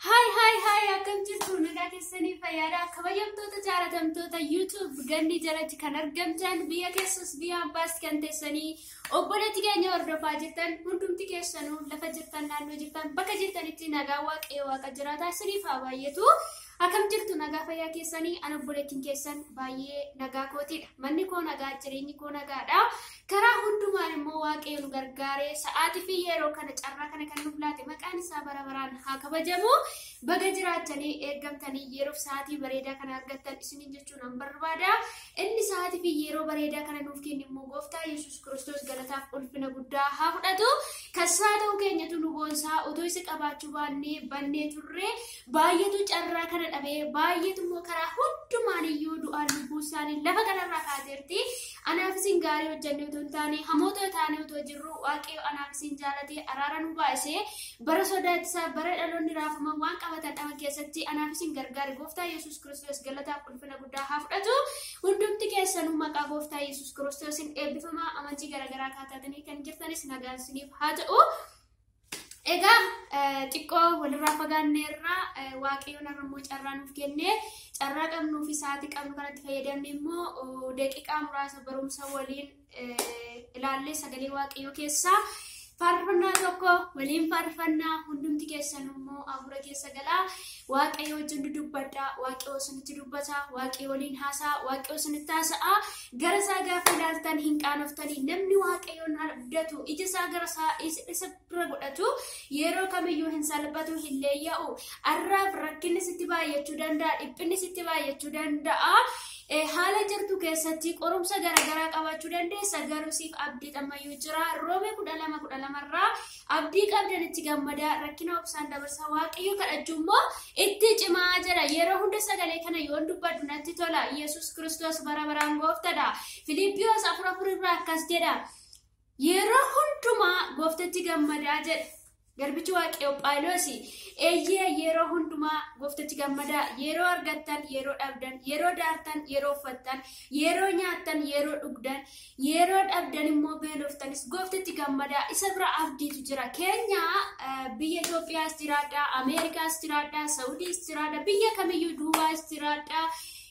Haay haay haay akkam jirtu nagaa keessanii fayyaadha kabajamtoota jaalatamtoota YouTube gandii jalatti kan argamtan biyya keessas biyya ambaas kan teessanii obboleetti keenya hordofaa jirtan hundumti keessanuu lafa jirtan naannoo jirtan bakka jirtanitti nagaa waaqayyo waaqa jiraataa isiniif haa baay'atu Akam jirtu nagaa fayyaa keessanii an obboleettiin keessan baay'ee nagaa kootiidha. Manni koo nagaa jireenyi koo nagaadha. Karaa hundumaan immoo waaqayyo nu gargaaree sa'aatii fi yeroo kana carraa kana kan nuuf laate maqaan isaa bara baraan haa kabajamu. Baga jiraachanii eeggamtanii yeroof sa'aatii bareedaa kana argattan isiniin jechuun an barbaada. Inni sa'aatii fi yeroo bareedaa kana nuuf kennu immoo gooftaa Yesuus Kiristoos galataaf ulfina guddaa haa fudhatu. Kassaa ta'uu keenyatu nu boonsaa utuu isa qabaachuu baannee bannee turre Baay'eetu carraa kana dhabee baay'eetu immoo karaa hundumaan iyyuu du'aan lubbuu isaanii lafa kanarraa kaateerti. Anaaf isin gaarii hojjannee otoo hin taane hamoota taanee otoo jirru waaqayyo anaaf isin jaalatee araara nu baay'isee bara sodaachisaa bara dhaloonni raafama waan qabatan dhaban keessatti anaaf isin gargaare gooftaa Yesuus Kiristoos galataaf ulfina guddaa haa fudhatu. Hundumti keessanuu maqaa gooftaa Yesuus Kiristoosiin eebbifamaa amantii garaagaraa kaataatanii kan jirtanis nagaan isiniif haa ta'u. Egaa xiqqoo walirraa fagaanneerraa waaqayyoon har'a immoo carraa nuuf kenne carraa qabnuu fi sa'aatii qabnu kanatti fayyadamne immoo daqiiqaa muraasa barumsa waliin ilaallee sagalee waaqayyoo keessaa faarfannaa tokko waliin faarfannaa hundumti keessan immoo hafuura keessa galaa Waaqayyo wajjin dudubbadhaa, Waaqayyo isinitti dubbata, Waaqayyo waliin haasa'a, Waaqayyo isinitti haasa'a. Gara isaa gaafa ilaaltan hin qaanoftanii namni Waaqayyoon abdatu ija isaa gara isaa is- isa bira godhatu yeroo kamiyyuu hin salphatu hin leeyya'u. Arraaf rakkinni sitti baay'achuu danda'a, dhiphinni sitti baay'achuu danda'a. Eh, Haala jirtu keessatti qorumsa garaagaraa qabaachuu dandeessa garuu siif abdiin ammayyuu jira. Roomee kudha lama kudha lamarraa Abdii qabdan itti gammadaa, rakkina obsaan dabarsaa, Waaqayyo kadhachuu immoo itti cimaa jedha. Yeroo hunda sagalee kana yoon dubbadhu natti tola. Yesus Kiristoos bara baraan gooftadha. Filiippiyoos afur afur irraa akkas jedha. Yeroo hundumaa gooftatti gammadaa jedha. Garbichi Waaqayyoo Phaawulos eeyyee yeroo hundumaa gooftatti gammadaa yeroo argattan yeroo dhabdan yeroo daartan yeroo uffattan yeroo nyaattan yeroo dhugdan Yeroo dhabdan immoo beeloftanis gooftitti gammadaa isa bira abdiitu jira. Keenya biyya Itoophiyaas jiraadhaa, Ameerikaas jiraadhaa, Sawudiis jiraadhaa, biyya kamiyyuu Duubaas jiraadhaa,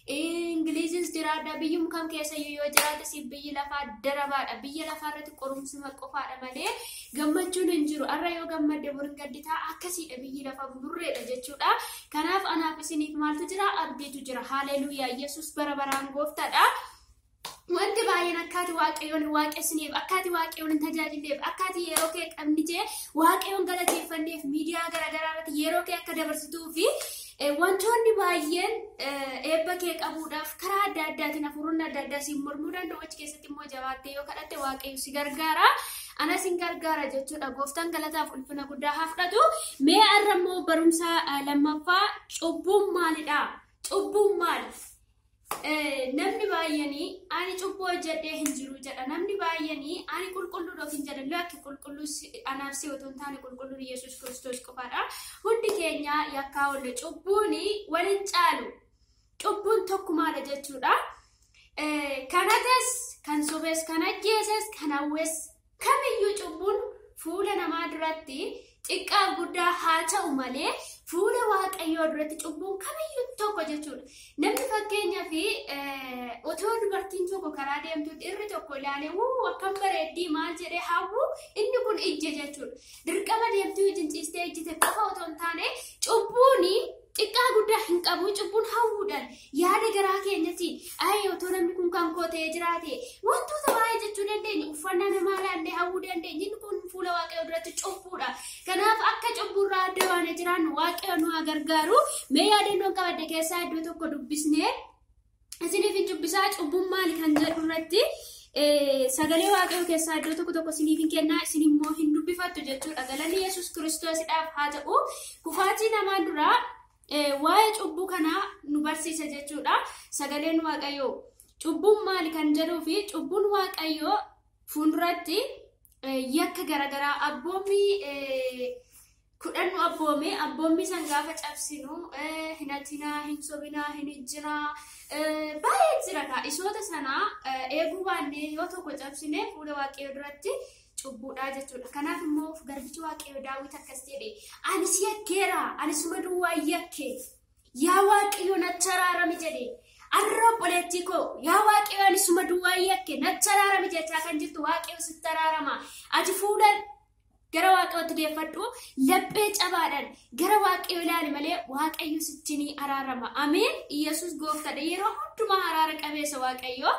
Ingiliizis jiraadhaa, biyyum kam keessayyuu yoo jiraadhe siif biyyi lafaa darabaadha. Biyya lafaa irratti qorumsuma qofaadha malee gammachuun hin jiru. Har'a yoo gammadde bor hin gadditaa akkasiidha biyyi lafaa buburreedha jechuudha. Kanaaf anaaf isiniif maaltu jira? Abdiitu jira. Haaleluuyaa! Yesuus bara baraan gooftaadha. Wanti baay'een akkaati waaqayyoon hin waaqessineef, akkaati waaqayyoon hin tajaajilleef, akkaati yeroo kee qabnitee waaqayyoon galateeffanneef miidiyaa garaagaraa irratti yeroo kee akka dabarsituu fi eh, wantoonni baay'een eh, eebba kee qabuudhaaf karaa adda addaatiin hafuuronni adda addaa siin mormuu danda'u achi keessatti immoo jabaattee yoo kadhatte waaqayyo si gargaara. Ana sin gargaara jechuudha. Gooftaan galataaf ulfina guddaa haa fudhatu. Mee har'a immoo barumsa eh, lammaffaa cubbuun maalidha? Cubbuun maali? Namni baay'een ani cubbuu hojjedhee hin jiru jedha. Namni baay'een ani qulqulluudha ofiin jedha. Lakki qulqulluu anaaf si otoo hin taane qulqulluun Yesuus Kiristoos qofaadha. Hundi keenya yakkaa oolle cubbuun wal hin caalu. Cubbuun tokkumaadha jechuudha. Kan hates, kan sobes, kan ajjeeses, kan hawwes Kamiyyuu cubbuun fuula namaa duratti xiqqaa guddaa haa ta'u malee fuula waaqayyoo duratti cubbuun kamiyyuu tokko jechuudha. Namni fakkeenyaa fi otoo dubartiin tokko karaa deemtu dhirri tokko ilaalee wuu akkam bareeddii maal jedhee hawwu inni kun ijje jechuudha. Dirqama deemtuu ijjin ciistee ijjite qofa otoo hin taane cubbuun Xiqqaa guddaa hin qabu cubbuun hawwuudhaan yaada garaa keenyatiin ayee otoo namni kun kan koo ta'ee jiraate wantoota baay'ee jechuu dandeenya uffannaa namaa ilaallee hawwuu dandeenya inni kun fuula waaqayyoo duratti cubbuudha kanaaf akka cubbuurraa adda baanee jiraannu waaqayyo nu haa gargaaru mee yaadannoon qabadde keessaa iddoo tokko dubbisnee isiniif hin dubbisaa cubbuun maali kan jedhu irratti sagalee waaqayyoo keessaa iddoo tokko tokko isiniif hin kennaa isin immoo hin dubbifattu jechuudha galanni yesus kiristoosidhaaf haa ta'u kufaatii namaa duraa waa'ee cubbuu kanaa nu barsiisa jechuudha sagaleen waaqayyoo cubbuun maali kan jedhuu fi cubbuun waaqayyoo fuulduratti yakka garaagaraa abboommii kudhan nu abboome abboommii san gaafa cabsinu hinatinaa hin sobinaa hin ijjinaa baay'ee jira kaa isoota sanaa eeguu baannee yoo tokko cabsine fuula waaqayyoo duratti cubbuudhaa jechuudha kanaaf immoo garbichi waaqayyoo daawwit akkas jedhe ani si yakkeera ani suma duwwaa yakke yaa waaqayyoo nacharaarami jedhe arra obboleettii koo yaa waaqayyoo ani suma duwwaa yakke nacharaarami jechaa kan jirtu waaqayyoo sittaraarama ati fuula Gara waaqayyootti deeffadhu laphee cabaadhaan gara waaqayyoo ilaali malee waaqayyo sitti ni araarama. Ameen. Iyyasuus gooftadha. Yeroo hundumaa araara qabeessa waaqayyoo.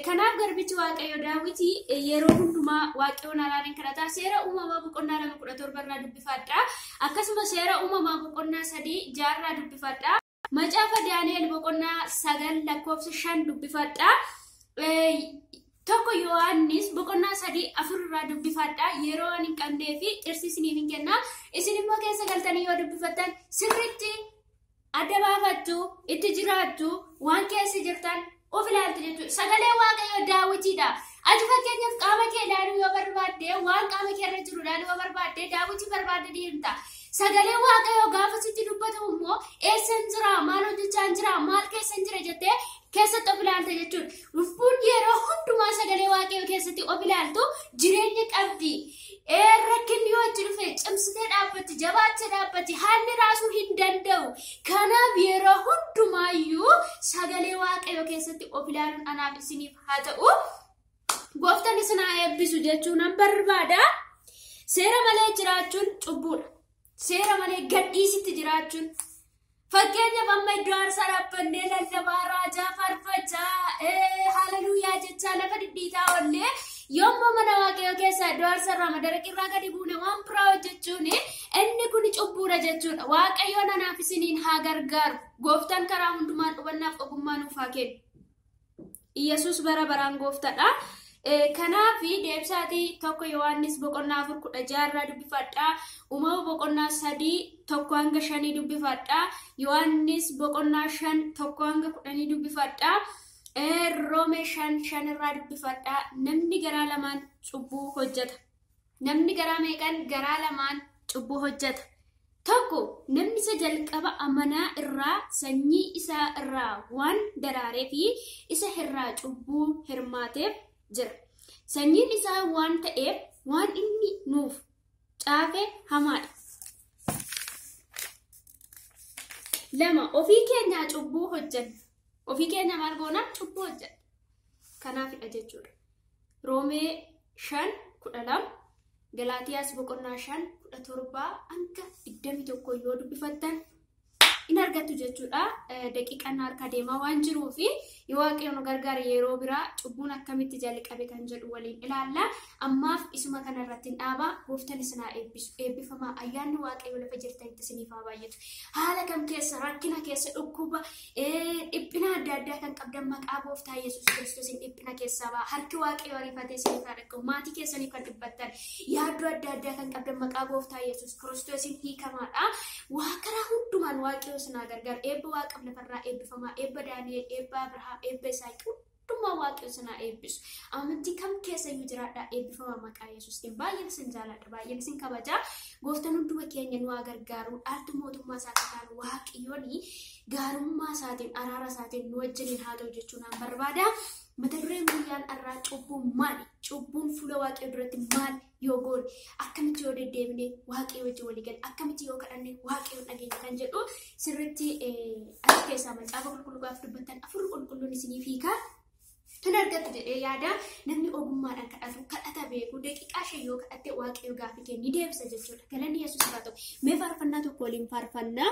Kanaaf garbichi waaqayyo daawwiti yeroo hundumaa waaqayyoon araariin kadhata. Seera uumamaa boqonnaa lama kudha torba irraa dubbifadha. Akkasuma seera uumamaa boqonnaa sadii jaarraa dubbifadha. Macaafa Daani'el boqonnaa sagal lakkoofsa shan dubbifadha. Tokko Yohaannis boqonnaa sadii afur irraa dubbifadha. Yeroo waan hin qabnee fi dhirsi isiniif hin kenna. Isin immoo keessa galtanii yoo dubbifattan sirriitti adda baafattu, itti jiraattu, waan keessa jirtan of ilaaltu jechuudha. Sagalee Waaqayyoo daawwitiidha. Ati fakkeenyaaf qaama kee ilaaluu yoo barbaadde waan qaama kee irra jiru ilaaluu yoo barbaadde daawwitii barbaadde deemta. Sagalee Waaqayyoo gaafa sitti dubbatamu immoo eessan jira maal hojjechaan jira maal keessan jira jettee keessatti of ilaalta jechuudha. Lubbuun yeroo hundumaa sagalee Waaqayyoo keessatti of ilaaltu jireenya qabdi. Ee rakkinni yoo itti dhufe cimsitee dhaabbatti jabaattee dhaabbatti haalli raasuu hin danda'u. Kanaaf yeroo hundumaayyuu sagalee waaqayyoo keessatti of ilaaluun anaaf isiniif haa ta'u. Gooftaan isin haa eebbisu jechuun nan barbaada. Seera malee jiraachuun cubbuudha. Seera malee gadhiisitti jiraachuun Fakkeenyaaf amma iddoo aarsaa dhaabbannee lallabaa raajaa farfachaa haleluuyaa jechaa lafa dhidhiitaa ollee yommuu mana waaqayyoo keessaa iddoo aarsaa irraa madaraqirraa gadi buune waan biraa hojjechuun inni kun cubbuudha jechuudha. Waaqayyoon anaaf isiniin haa gargaaru. Gooftaan karaa hundumaan hubannaaf ogummaa nuuf haa kennu. Iyyasuus bara baraan gooftadha. Kanaaf deebisaatii tokko Yohaannis boqonnaa afur kudha jaarraa dubbifadhaa. Uumama boqonnaa sadii tokko hanga shanii dubbifadhaa. Yohaannis boqonnaa shan tokko hanga kudhanii dubbifadhaa. Roomee shan shanirraa dubbifadhaa. Namni garaa lamaan cubbuu hojjeta. Namni garaa meeqan garaa lamaan cubbuu hojjata? 1 namni isa jalqaba amanaa irraa sanyii isaa irraa waan daraaree fi isa irraa cubbuu hirmaateef jira. Sanyiin isaa waan ta'eef waan inni nuuf caafe hamaadha. Lama ofii keenyaa cubbuu hojjanna. Ofii keenya maal goonaa cubbuu hojjedha. Kanaafidha jechuudha. Roomee 5 12 Galaatiyaas boqonnaa 5 17 hanga 21 yoo dubbifattan in argattu jechuudha. Daqiiqaan harkaa deemaa waan jiruu fi yoo waaqayyo nu gargaare yeroo biraa cubbuun akkamitti jalqabe kan jedhu waliin ilaalla. Ammaaf isuma kana irratti hin dhaabaa gooftan isin haa eebbisu. Eebbifamaa ayyaanni waaqayyo lafa jirtanitti isiniif haa baay'atu. Haala kam keessa rakkina keessa dhukkuba Dhiphina adda addaa kan qabdan maqaa gooftaa Yesuus Kiristoosiin dhiphina keessaa ba'a. Harki waaqayyoo ariifatee isin irraa dhaqabu. Maatii keessaniif kan dhiphattan yaaddoo adda addaa kan qabdan maqaa gooftaa Yesuus Kiristoosiin hiikamaadha. Waa karaa hundumaan waaqayyoo isin haa gargaaru. Eebba waaqaf lafarraa eebbifamaa. Eebba Daani'el, eebba Abrahaam, eebba Isaaq Dhuma waaqayyo isin haa eebbisu. Amantii kam keessa iyyuu jiraadhaa eebbifama maqaa Yesuusiin. Baay'een isin jaaladha, baay'een isin kabaja. Gooftaan hunduma keenya nu haa gargaaru. Dhaaltu mootummaa isaa akka taanu waaqayyoon gaarummaa isaatiin, araara isaatiin nu wajjiniin haa ta'u jechuun nan barbaada. Mata dureen guyyaan har'aa cubbuun maali? Cubbuun fuula waaqayyoo duratti maali? yoo goone, akkamitti yoo deddeebine Waaqayyoo wajjin walii galla, akkamitti yoo kadhanne Waaqayyoon dhageenya kan jedhu sirriitti as keessaa macaafa qulqulluu gaafa dubbattan afurri qulqulluun isiniif hiikaa hin argattu jedhee yaada namni ogummaadhaan kadhatu kadhata beeku daqiiqaa shan yoo kadhatte waaqayyo gaaffii kee ni deebisa jechuudha galanni yesuus irraa ta'u mee faarfannaa tokko waliin faarfannaa